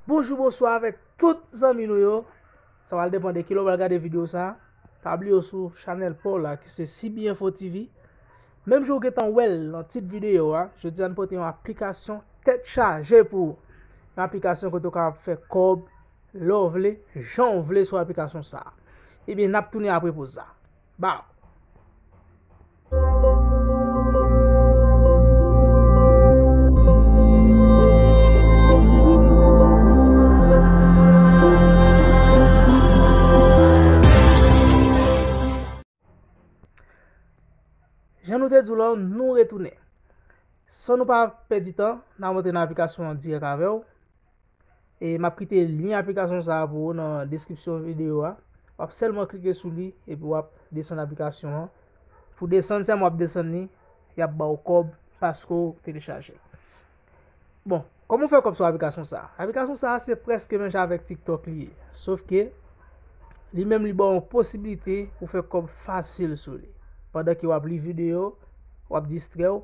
Bonjou bonswa avèk tout zanmi nou yo Sa wal depan de kilè w wal gade video sa Pa bliye w sou chanèl paw la ki se CB Info TV Menm jan w gentan wèl nan tit video a Jodi a n pote yon aplikasyon tèt chaje pou ou Yon aplikasyon kote w kapab fè kòb lè w vle jan w vle sou aplikasyon sa Ebyen nap tounen apre poz sa. Baww. Jan nou te di w la, nou retounen. San nou pa pèdi tan, n ap antre nan aplikasyon an dirèk avè w. E m ap kite lyen aplikasyon sa a pou ou nan deskripsyon videyo a. W ap sèlman klike sou li epi w ap desann aplikasyon an. Pou desann sèlman w ap desann li, y ap ba ou kòb paske ou telechaje l. Bon, kòman w fè kòb sou aplikasyon sa a? Aplikasyon sa a se prèske menm jan avèk TikTok li ye. Sof ke li menm li ba ou posibilite pou fè kòb fasil sou li. Pandan ke w ap li videyo, w ap distrè ou.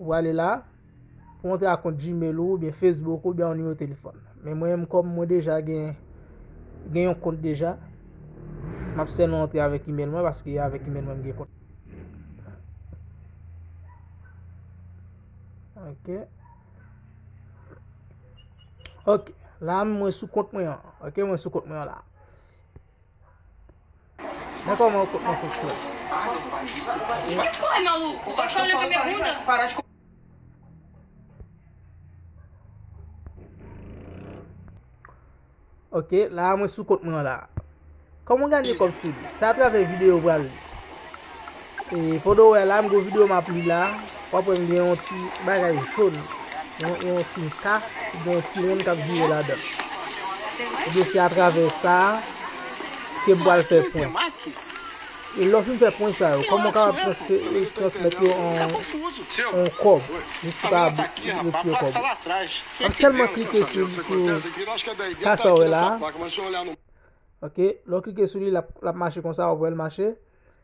Ou ale la, pou antre ak kont Gmail ou, oubyen Facebook ou, oubyen yon nimewo telefòn. Men mwen menm kòm mwen deja gen gen yon kont deja, map fè nou antre avèk email mwen paske avèk email mwen m gen kont. Ok. Ok, la mwen sou kont mwen an. Ok, mwen sou kont mwen an la. Mwen kòman ou kontman fòk sou a. Ok la a mwen sou kont mwen an la a. Kòman ou ganye kòb sou li? Se a travè video ou pral. Pandan ou wè la, m gen yon video m ap li la, w ap wè m gen yon ti bagay jòn, yon siy K, ki gen yon ti wonn k ap vire ladan l. Ebyen se atravè sa a ke m pral fè pwen. E lè w fin fè pwen sa yo, kòman w kapab transmèt yo an kòb, jis pou w kapab retire kòb ou? W ap sèlman klike sou K sa w wè la a, ok, lè w klike sou li l ap mache konsa, w ap wè l mache.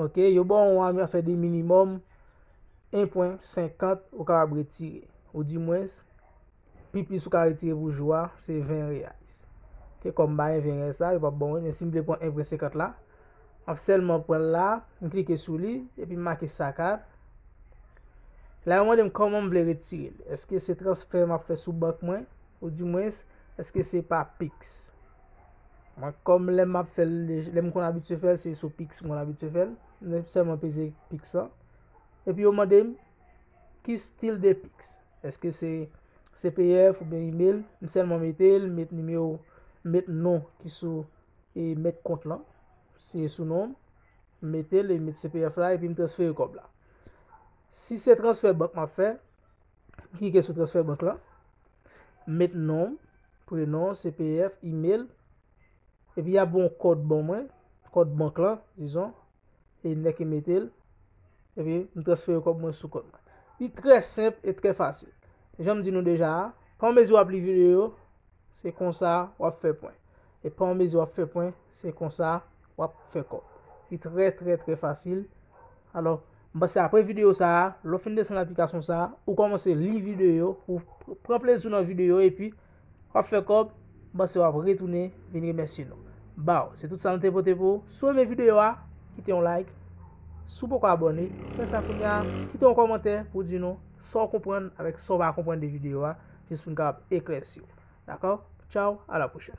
Ok, yo ba w yon ame a fè de minimòm 1.50 ou kapab retire. Ou di mwens, pi plis ou ka retire pou jou a, se 20 reais. Ok, kòm ba yon 20 reais la, yo pa bon wen, men si m vle pran 1.50 la, m ap sèlman pran l la, m klike sou li, epi m make sacar. La yo mande m kòman m vle retire l. Eske se transfè m ap fè sou bank mwen, ou di mwens, eske se pa pix. Mwen kòm lèm map fèl lèm konn abitye fèl se sou pix mwen konn abitye fèl mwen sèlman peze pix lan epi yo mandem ki stil de pix eske se cpf oubyen email m sèlman metel m met nimewo m met non ki sou e mèt kont lan se sou nom m metel e m met cpf la epi m transfere kòb la si se transfè bank map fè Klike sou transfè bank la. Met non, prenon, CPF, email. Epi y ap voye yon kòd ban mwen. Kòd bank la, dizon. E nèk e metel. Epi m transfere kòb mwen sou kòd mwen. Li trè senp e trè fasil. Janm di nou deja a, pa mezi w ap li videyo, se konsa w ap fè pwen. E pa mezi w ap fè pwen, se konsa. wap fè kòb. Li trè trè trè fasil. Alò, m panse apre videyo sa a, lè w fin desann aplikasyon sa a, ou kòmanse li videyo, ou pran plezi w nan videyo epi wap fè kòb, m panse wap retounen vin remèsye nou. Baw, se tout sa nou te pote pou ou. Si w renmen videyo a, kite yon like. Si w poko abòne, fè sa kounya. Kite yon kòmantè pou w di nou sa w konprann avèk sa w pa konprann de videyo a, jis pou n kapab eklèsi w. Dakò? Tchaw, a la pwochèn.